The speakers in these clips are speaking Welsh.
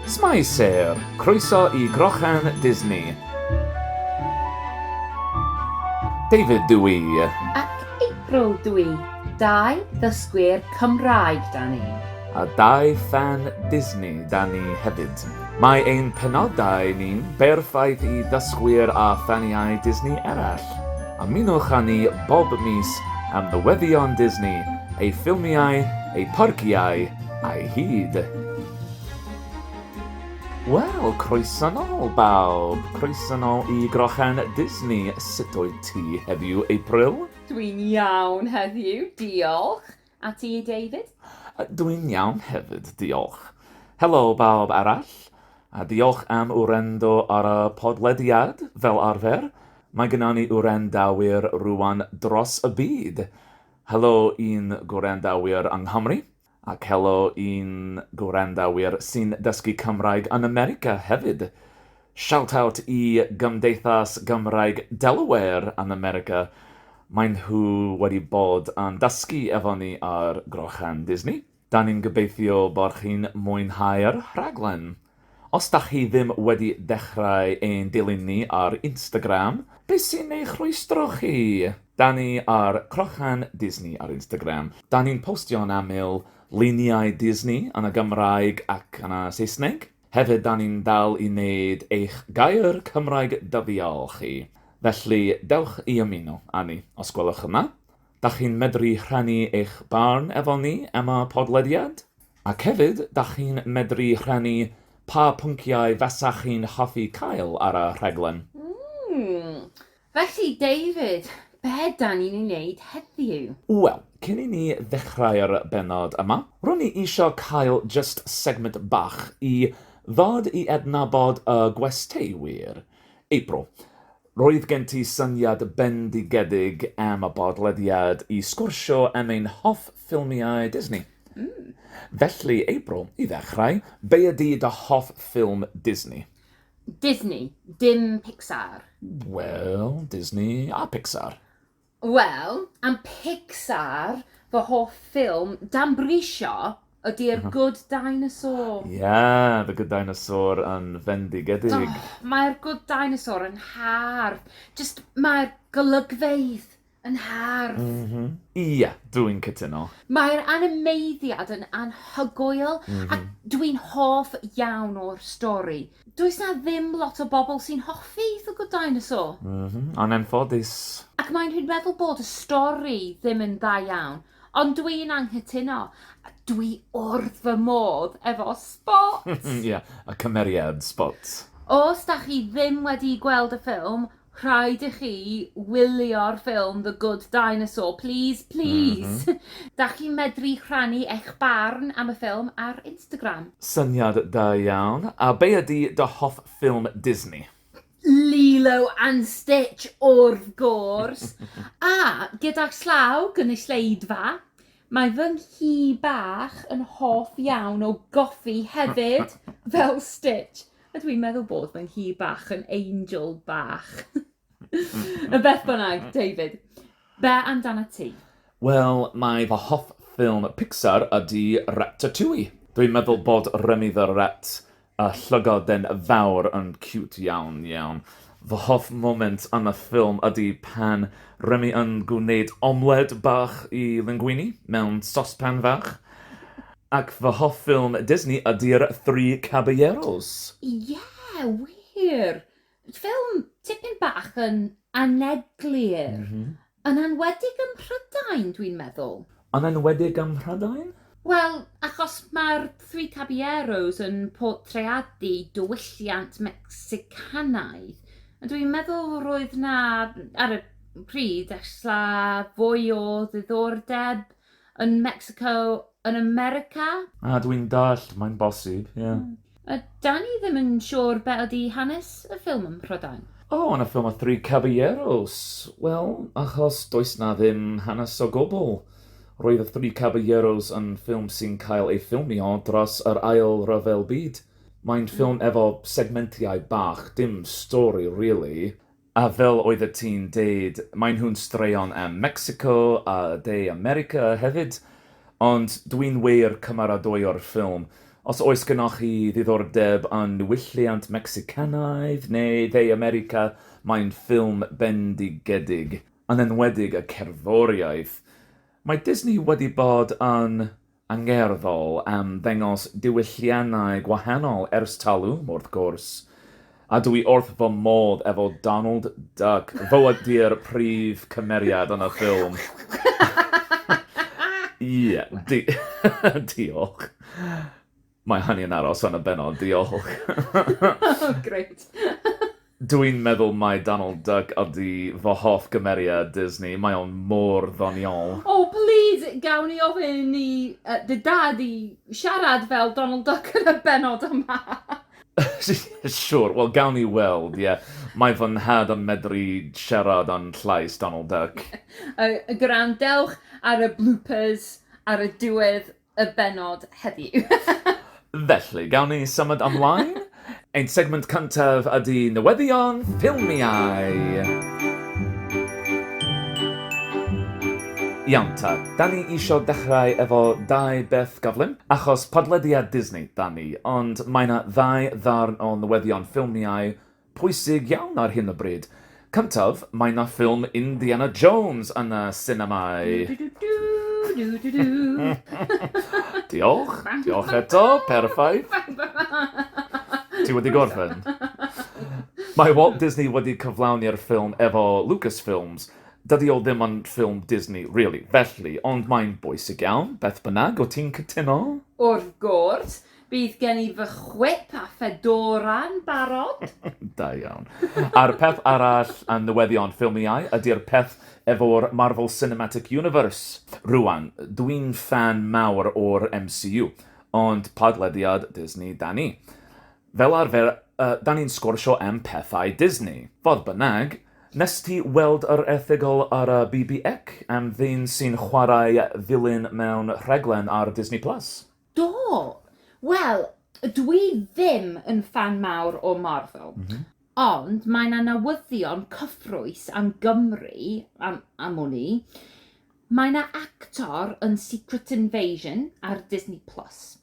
Shwmae Sêr! Croeso i Grochan Disney! David dw i. Ac April dw i. Dau ddysgwyr Cymraeg 'da ni. A dau ffan Disney 'da ni hefyd. Mae ein penodau ni'n berffaith i ddysgwyr a ffaniau Disney eraill. Ymunwch â ni bob mis am newyddion Disney, ei ffilmiau, ei pharciau a'i hyd. Wel, croeso nôl bawb, croeso nôl i Grochen Disney, sut oed ti heddiw, April? Dwi'n iawn heddiw, diolch. A ti, David? Dw i'n iawn hefyd, diolch. Helo bawb arall, a diolch am wrando ar y podlediad, fel arfer. Mae gynnon ni wrandawyr rŵan dros y byd. Helo i'n gwrandawyr yng Nghymru, ac helo i'n gwrandawyr sy'n dysgu Cymraeg yn America hefyd. Shoutout i Gymdeithas Gymraeg Delaware yn America, maen nhw wedi bod yn dysgu efo ni ar Grochen Disney. Da ni'n gobeithio bod chi'n mwynhau'r rhaglen. Os da chi ddim wedi dechrau ein dilyn ni ar Instagram, be sy'n ei rhwystro chi? Da ni ar Crochen Disney ar Instagram. Da ni'n postio'n aml luniau Disney yn y Gymraeg ac yn y Saesneg. Hefyd da ni'n dal i wneud eich gair Cymraeg dyddiol chi, felly dewch i ymuno â ni os gwelwch yma. Da chi'n medru rhannu eich barn efo ni am y podlediad. Ac hefyd da chi'n medru rhannu pa pynciau fasa chi'n hoffi cael ar y rhaglen. Mmm! Felly, David, be dan ni'n ei wneud heddiw? Wel, cyn i ni ddechrau'r bennod yma, ro'n i isio cael jyst segment bach i ddod i adnabod y gwestai wir. April, roedd gen ti syniad bendigedig am y podlediad i sgwrsio am ein hoff ffilmiau Disney. Felly, April, i ddechrau, be ydy dy hoff ffilm Disney? Disney, dim Pixar. Wel, Disney a Pixar. Wel, am Pixar, fy hoff ffilm dan brisio ydy'r mhm. Good Dinosaur. Ie, yeah, The Good Dinosaur yn fendigedig. Oh, Mae'r Good Dinosaur yn hardd. Just mae'r golygfeydd Yn hardd! M-hm. Ie, dw i'n cytuno. Mae'r animeiddiad yn anhygoel a dw i'n hoff iawn o'r stori. Does 'na ddim lot o bobl sy'n hoffi The Good Dinosaur. M-hm, yn anffodus. Ac maen nhw'n meddwl bod y stori ddim yn dda iawn, ond dw i'n anghytuno. Dw i wrth fy modd efo Spot! Ie, y cymeriad Spot. Os 'da chi ddim wedi gweld y ffilm, rhaid i chi wylio'r ffilm The Good Dinosaur, please, please! Mm -hmm. da chi'n medru rhannu eich barn am y ffilm ar Instagram. Syniad da iawn. A be ydy dy hoff ffilm Disney? Lilo and Stitch, wrth gwrs. A gyda llaw gynulleidfa, mae fy nghi bach yn hoff iawn o goffi hefyd, fel Stitch. Ydw i'n meddwl bod, mae'n hi bach yn angel bach. y beth bynnag, David, be amdana ti? Wel, mae fy hoff ffilm Pixar ydy Ratatouille. Dwi'n meddwl bod Remy the Rat, y llygoden fawr, yn ciwt iawn, iawn. Fy hoff moment yn y ffilm ydy pan Remy yn gwneud omled bach i linguini mewn sospan fach. Ac fy hoff ffilm Disney ydy'r Three Caballeros. Ie, wir! Ffilm tipyn bach yn aneglur. Yn enwedig ym Mhrydain, dwi'n meddwl. Yn enwedig ym Mhrydain? Wel, achos mae'r Three Caballeros yn portreadu diwylliant Mecsicanaidd, a dwi'n meddwl roedd 'na, ar y pryd, ella fwy o ddiddordeb Yn Mexico, yn America? Ah, dw i'n dallt, mae'n bosib, ie. A da ni ddim yn siŵr be ydy hanes y ffilm ym Mhrydain. O, yn y ffilm Y Three Caballeros? Wel, achos does 'na ddim hanes o gwbl. Roedd Y Three Caballeros yn ffilm sy'n cael ei ffilmio dros yr Ail Ryfel Byd. Mae'n ffilm efo segmentiau bach, dim stori rili. A fel oeddet ti'n deud, maen nhw'n straeon am Mecsico a De America hefyd, ond dwi'n wir cymaradoio'r ffilm. Os oes gennoch chi ddiddordeb yn niwylliant Mecsicanaidd neu Dde America, mae'n ffilm bendigedig, yn enwedig y cerddoriaeth. Mae Disney wedi bod yn angerddol am ddengos diwylliannau gwahanol ers talwm, wrth gwrs, a dw i wrth fy modd efo Donald Duck, fo ydy'r prif cymeriad yn y ffilm. Ie, di- diolch. Mae Hanni yn aros yn y bennod, diolch! O, grêt! Dw i'n meddwl mai Donald Duck ydy fy hoff gymeriad Disney, mae o'n mor ddoniol! O, plîs, gawn ni ofyn i dy dad i siarad fel Donald Duck yn y bennod yma? Siwr, wel, gawn ni weld, ie. Mae fy nhad yn medru siarad yn llais Donald Duck. Gwrandewch ar y bloopers ar y diwedd. y bennod heddiw. Felly, gawn ni symud ymlaen? Ein segment cyntaf ydy newyddion ffilmiau. Iawn ta, da ni isio dechrau efo dau beth gyflym, achos podlediad Disney da ni, ond mae 'na ddau ddarn o newyddion ffilmiau pwysig iawn ar hyn o bryd. Cyntaf, mae 'na ffilm Indiana Jones yn y sinemâu. Diolch, diolch eto, perffaith. Ti wedi gorffen? Mae Walt Disney wedi cyflawni'r ffilm efo Lucasfilms. Dydy o ddim yn ffilm Disney, really, felly, ond mae'n bwysig iawn, beth bynnag, wyt ti'n cytuno? Wrth gwrs. Bydd gen i fy chwip a fedorau'n barod. Da iawn. A'r peth arall am newyddion ffilmiau ydy'r peth efo'r Marvel Cinematic Universe. Rwan, dwi'n ffan mawr o'r MCU, ond podlediad Disney 'da ni. Fel arfer, 'da ni'n sgwrsio am pethau Disney. Fodd bynnag, wnest ti weld yr erthygl ar y BBUK am ddyn sy'n chwarae vilyn mewn rhaglen ar Disney Plus? Do! Wel, dwi ddim yn ffan mawr o Marvel. Mm -hmm. Ond mae yna newyddion cyffrous am Gymru, am, am wn i. Mae yna actor yn Secret Invasion ar Disney Plus.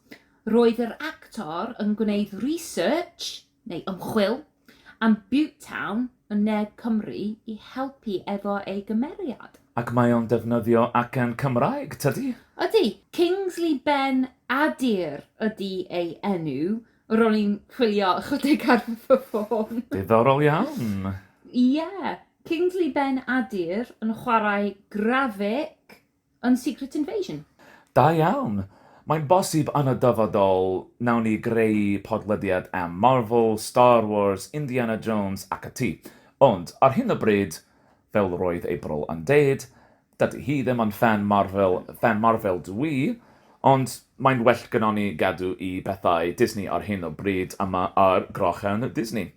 Roedd yr actor yn gwneud research neu ymchwil, am Butetown yn ne Cymru i helpu efo ei gymeriad. Ac mae o'n defnyddio acen Cymraeg, tydi? Ydi. Kingsley Ben Adir ydi ei enw. Ro'n i'n chwilio ychydig ar fy ffôn. Diddorol iawn. Ie. Kingsley Ben Adir yn chwarae Grafik Yn Secret Invasion. Da iawn! Mae'n bosib yn y dyfodol, nawn ni greu podlediad am Marvel, Star Wars, Indiana Jones ac ati. Ond, ar hyn o bryd, fel roedd April yn deud, dydy hi ddim yn ffan Marvel, ffan Marvel dw i, ond mae'n well gynnon ni gadw i bethau Disney ar hyn o bryd yma ar Grochen Disney.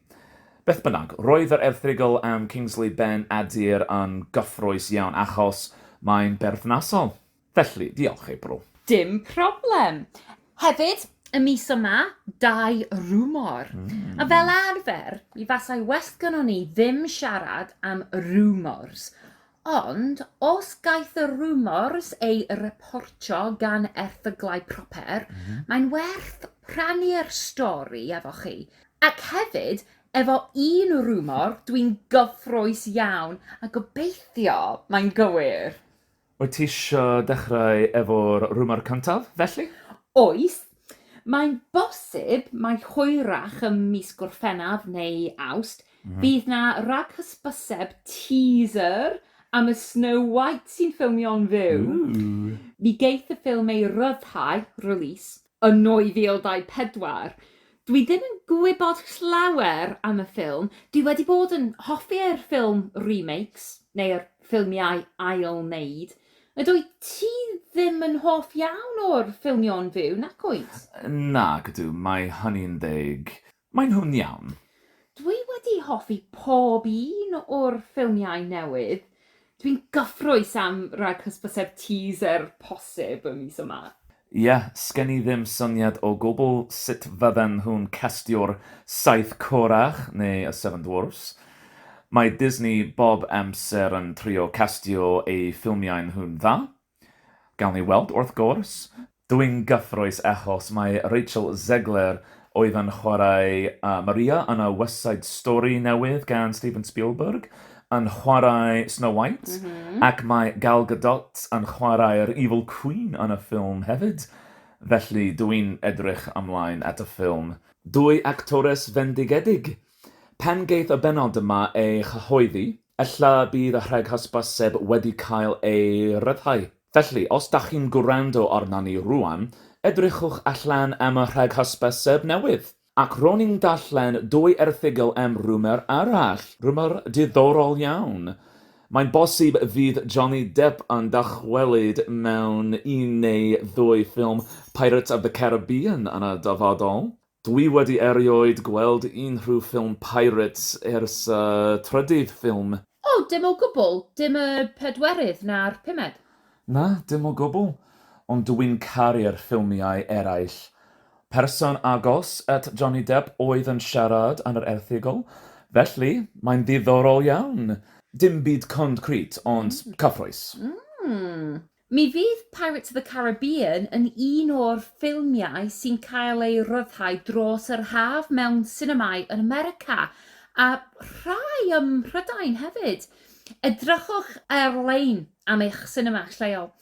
Beth bynnag, roedd yr erthygl am Kingsley Ben Adir yn gyffrous iawn achos mae'n berthnasol. Felly, diolch ei bro. Dim problem! Hefyd, y mis yma, dau rŵmor. A fel arfer, mi fasai well gynnon ni ddim siarad am rŵmors. Ond os gaiff y rŵmors eu reportio gan erthyglau proper, mae'n werth rhannu'r stori efo chi. Ac hefyd, efo un rŵmor, dwi'n gyffrous iawn, a gobeithio mae'n gywir! Wyt ti isio dechrau efo'r rŵmor cyntaf, felly? Oes. Mae'n bosib mai hwyrach ym mis Gorffennaf neu Awst, Bydd 'na raghysbyseb, teaser, am y Snow White sy'n ffilmio'n fyw. Mi geith y ffilm ei ryddhau, release, yn 2024. Dwi ddim yn gwybod llawer am y ffilm, dwi wedi bod yn hoffi yr ffilm remakes, neu'r ffilmiau ail-wneud. Yd wyt ti ddim yn hoff iawn o'r ffilmio'n fyw, nac wyt? Nac ydw, mae hynny'n deg. Maen nhw'n iawn. Dwi wedi hoffi pob un o'r ffilmiau newydd. Dwi'n gyffrous am rag hysbyseb teaser posib y mis yma. Ie, sgen i ddim syniad o gwbl sut fydden nhw'n castio'r Saith Corach neu y Seven Dwarfs. Mae Disney bob amser yn trio castio eu ffilmiau nhw'n dda. Gawn ni weld, wrth gwrs. Dw i'n gyffrous achos mae Rachel Zegler oedd yn chwarae Maria yn y West Side Story newydd gan Steven Spielberg yn chwarae Snow White ac mae Gal Gadot yn chwarae'r Evil Queen yn y ffilm hefyd. Felly, dw i'n edrych ymlaen at y ffilm. Dwy actores fendigedig! Pan geith y bennod yma ei chyhoeddi, Ella bydd y rheg hysbyseb wedi cael ei ryddhau. Felly, os da chi'n gwrando arna ni rŵan, edrychwch allan am y rheg hysbyseb newydd. Ac ro'n i'n darllen dwy erthygl am rwmor arall, rwmor diddorol iawn. Mae'n bosib fydd Johnny Depp yn dychwelyd mewn un neu ddwy ffilm Pirates of the Caribbean yn y dyfodol. Dwi wedi erioed gweld unrhyw ffilm Pirates ers y trydydd ffilm. O, dim o gwbl? Dim y pedwerydd na'r pumed? Na, dim o gwbl. Ond dw i'n caru'r ffilmiau eraill. Person agos at Johnny Depp oedd yn siarad yn yr erthygl, felly mae'n ddiddorol iawn. Dim byd concrit, ond cyffrous. Mi fydd Pirates of the Caribbean yn un o'r ffilmiau sy'n cael ei ryddhau dros yr haf mewn sinemâu yn America, a rhai ym Mhrydain hefyd. Edrychwch ar-lein am eich sinema lleol.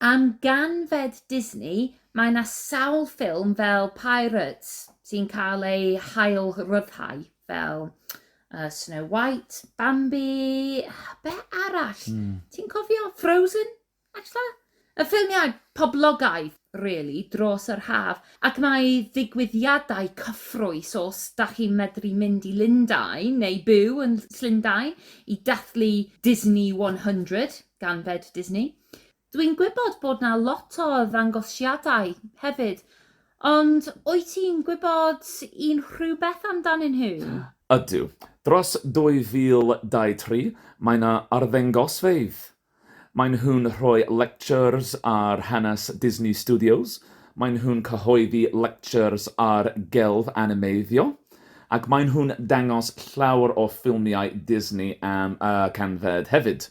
Am ganfed Disney, mae 'na sawl ffilm fel Pirates sy'n cael eu hail-ryddhau. fel uh, Snow White, Bambi, be arall? Mm. Ti'n cofio Frozen? Actually? Y ffilmiau poblogaidd, really, dros yr haf. Ac mae ddigwyddiadau cyffrous os da chi'n medru mynd i Lundain neu byw yn Llundain i dathlu Disney 100 gan Fed Disney. Dwi'n gwybod bod 'na lot o ddangosiadau hefyd, ond wyt ti'n gwybod unrhywbeth amdanyn nhw? Ydw. Dros 2023, mae 'na arddengosfeydd. Maen nhw'n rhoi lectures ar hanes Disney Studios, maen nhw'n cyhoeddi lectures ar gelf animeiddio, ac maen nhw'n dangos llawer o ffilmiau Disney am y canfed hefyd.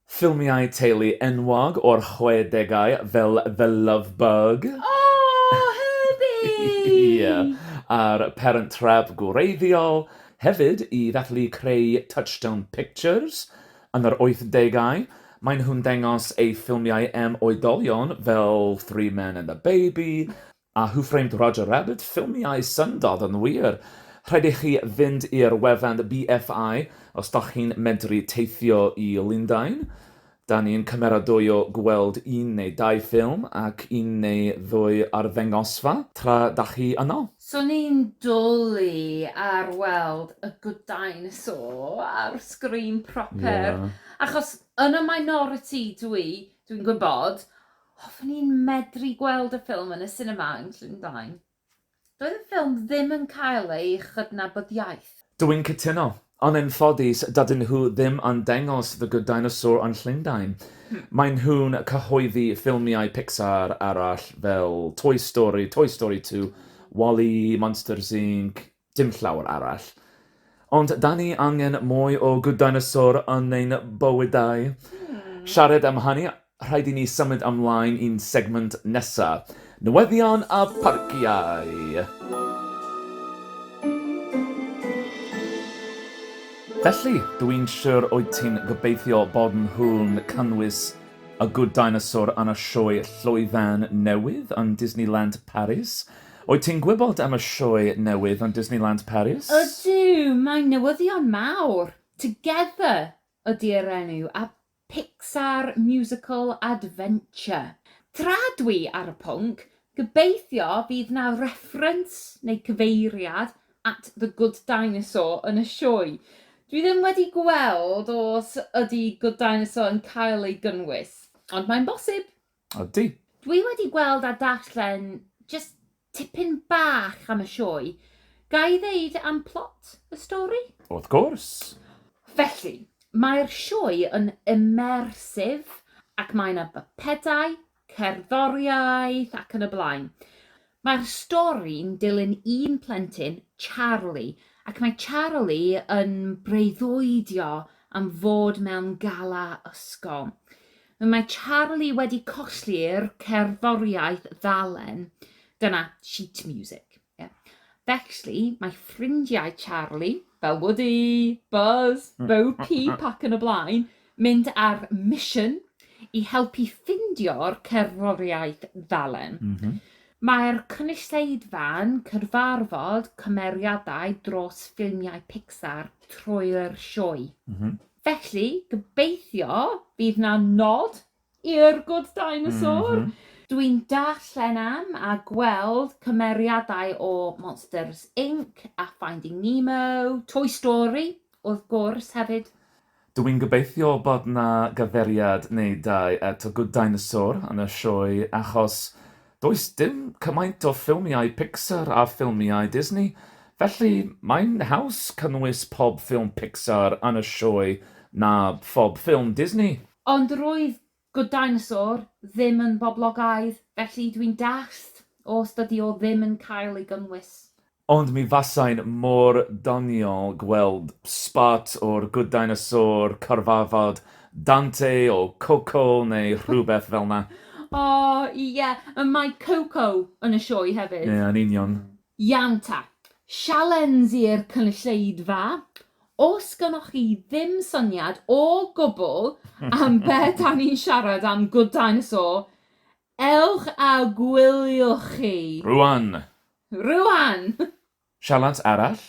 Ffilmiau teulu enwog o'r chwedegau fel The Love Bug! Aww! Herbie! a'r Parent Trap gwreiddiol, hefyd i ddathlu creu Touchstone Pictures yn yr oithdegau, maen nhw'n dangos eu ffilmiau am oedolion fel Three Men and a Baby, A Who Framed Roger Rabbit? Ffilmiau syndod yn wir! Rhaid i chi fynd i'r wefan BFI os dach chi'n medru teithio i Lundain. Da ni'n cymeradwyo gweld un neu dau ffilm ac un neu ddwy arddengosfa tra dach chi yno. Swn i'n dwli ar weld y Good Dinosaur ar sgrin proper, achos yn y minority dw i, dwi'n gwybod, Hoffwn i'n medru gweld y ffilm yn y sinema yn Llyn Blaen. Doedd y ffilm ddim yn cael ei chydnabyddiaeth. Dw i'n cytuno. Ond yn ffodus, dydyn nhw ddim yn dangos The Good Dinosaur yn Llundain. Maen nhw'n cyhoeddi ffilmiau Pixar arall fel Toy Story, Toy Story Two, Wall-E, Monsters Inc, Dim llawer arall. Ond 'da ni angen mwy o Good Dinosaur yn ein bywydau. Siarad am hynny, rhaid i ni symud ymlaen i'n segment nesa', newyddion a pharciau! Felly, dw i'n siwr wyt ti'n gobeithio bod nhw'n cynnwys y Good Dinosaur yn y sioe llwyfan newydd yn Disneyland Paris. Wyt ti'n gwybod am y sioe newydd yn Disneyland Paris? Ydw, mae'n newyddion mawr! Together ydi'r enw a Pixar Musical Adventure. Tra dwi ar y pwnc, gobeithio fydd 'na reference neu cyfeiriad at The Good Dinosaur yn y sioe. Dwi ddim wedi gweld os ydi Good Dinosaur yn cael ei gynnwys, ond mae'n bosib! Ydy. Dwi wedi gweld a darllen just tipyn bach am y sioe. Ga i ddeud am plot y stori? Wrth gwrs. Felly, mae'r sioe yn immersive ac mae 'na bypedau, cerddoriaeth ac yn y blaen. Mae'r stori'n dilyn un plentyn, Charlie, ac mae Charlie yn breuddwydio am fod mewn gala ysgol. Mae Charlie wedi colli'r cerddoriaeth ddalen, dyna sheet music, ie. Felly, mae ffrindiau Charlie, fel Woody, Buzz, Bo Peep ac yn y blaen, Mynd ar mission i helpu ffindio'r cerddoriaeth ddalen. Mae'r cynulleidfa'n cyfarfod cymeriadau dros ffilmiau Pixar trwy'r sioe. Felly, gobeithio fydd 'na nod Yr good dinosaur! Mm -hmm. Dwi'n darllen am a gweld cymeriadau o Monsters Inc a Finding Nemo, Toy Story, wrth gwrs, hefyd. Dw i'n gobeithio bod 'na gyfeiriad neu dau at y Good Dinosaur yn y sioe achos does dim cymaint o ffilmiau Pixar a ffilmiau Disney, felly mae'n haws cynnwys pob ffilm Pixar yn y sioe na phob ffilm Disney. Ond roedd Good Dinosaur ddim yn boblogaidd, felly dwi'n dallt os dydi o ddim yn cael ei gynnwys. Ond mi fasai'n mor ddoniol gweld sbot o'r Good Dinosaur cyfarfod Dante o Coco neu rhywbeth fel 'na. O, ie, mae Coco yn y sioe hefyd. Ie, yn union. Ianta, sialensir cynulleidfa, os gynnoch chi ddim syniad o gwbl am be da ni'n siarad am Good Dinosaur, ewch a gwyliwch chi! Rwan! Rwan! Sialens arall,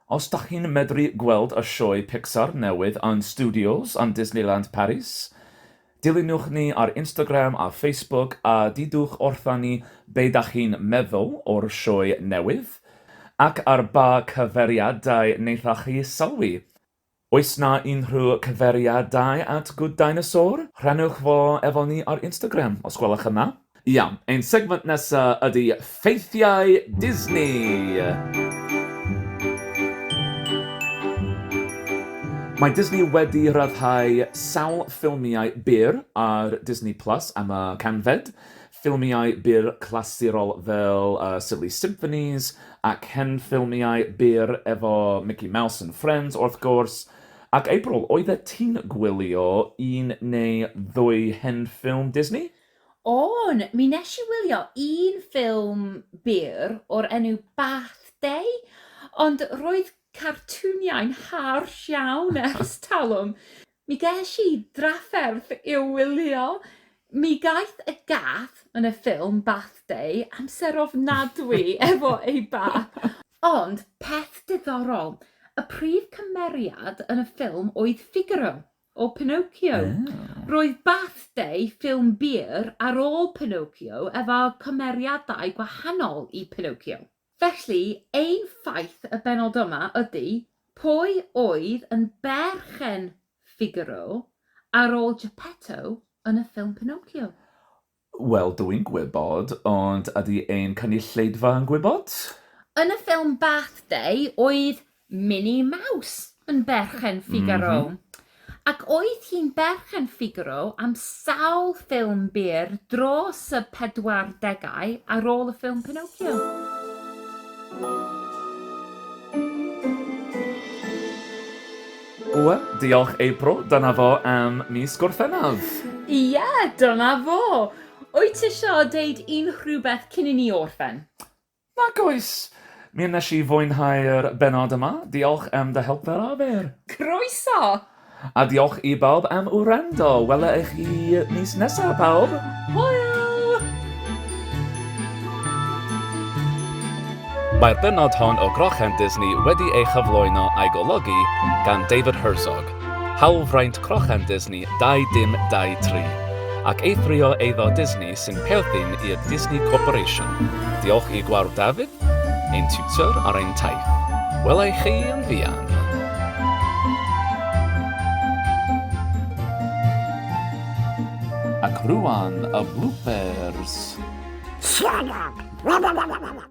os da chi'n medru gweld y sioe Pixar newydd yn Studios yn Disneyland Paris, Dilynwch ni ar Instagram a Facebook a dudwch wrtha ni be da chi'n meddwl o'r sioe newydd, ac ar ba cyfeiriadau wnaetha chi sylwi. Oes na unrhyw cyfeiriadau at Good Dinosaur? Rhannwch fo efo ni ar Instagram os gwelwch yn dda. Iawn, ein segment nesa ydi ffeithiau Disney! Mae Disney wedi rhyddhau sawl ffilmiau byr ar Disney Plus am y canfed, ffilmiau byr clasurol fel Silly Symphonies ac hen ffilmiau byr efo Mickey Mouse and Friends wrth gwrs. Ac April, oeddet ti'n gwylio un neu ddwy hen ffilm Disney? O'n, mi nes i wylio un ffilm byr o'r enw Bath Day, ond roedd cartwniau'n harsh iawn ers talwm. Mi ges i drafferth i'w wylio. Mi gaeth y gath yn y ffilm Bath Day amser ofnadwy efo ei bath. Ond, peth diddorol, y prif cymeriad yn y ffilm oedd Figaro. o Pinocchio. Oh. Roedd Bath Day, ffilm byr ar ôl Pinocchio, efo cymeriadau gwahanol i Pinocchio. Felly, ein ffaith y bennod yma ydy, pwy oedd yn berchen Figaro ar ôl Geppetto yn y ffilm Pinocchio? Wel, dw i'n gwybod, ond ydy ein cynulleidfa yn gwybod? Yn y ffilm Bath Day, oedd Minnie Mouse yn berchen Figaro. Ac oedd hi'n berchen Figaro am sawl ffilm byr dros y pedwardegau ar ôl y ffilm Pinocchio. Ww, diolch April, dyna fo am mis Gorffennaf! Ie, dyna fo! Wyt ti isio deud unrhywbeth cyn i ni orffen? Nac oes! Mi wnes i fwynhau'r bennod yma, diolch am dy help fel arfer! Croeso! A diolch i bawb am wrando, wela i chi mis nesa, pawb! Hwyl! Mae'r bennod hon o Grochan Disney wedi ei chyflwyno a'i golygu gan David Herzog, hawlfraint Crochan Disney 2023, ac eithrio eiddo Disney sy'n perthyn i'r Disney Corporation. Diolch i Gwawr David, ein tiwtor ar ein taith. Wela i chi yn fuan! Ac rŵan y bloopers! Siarad!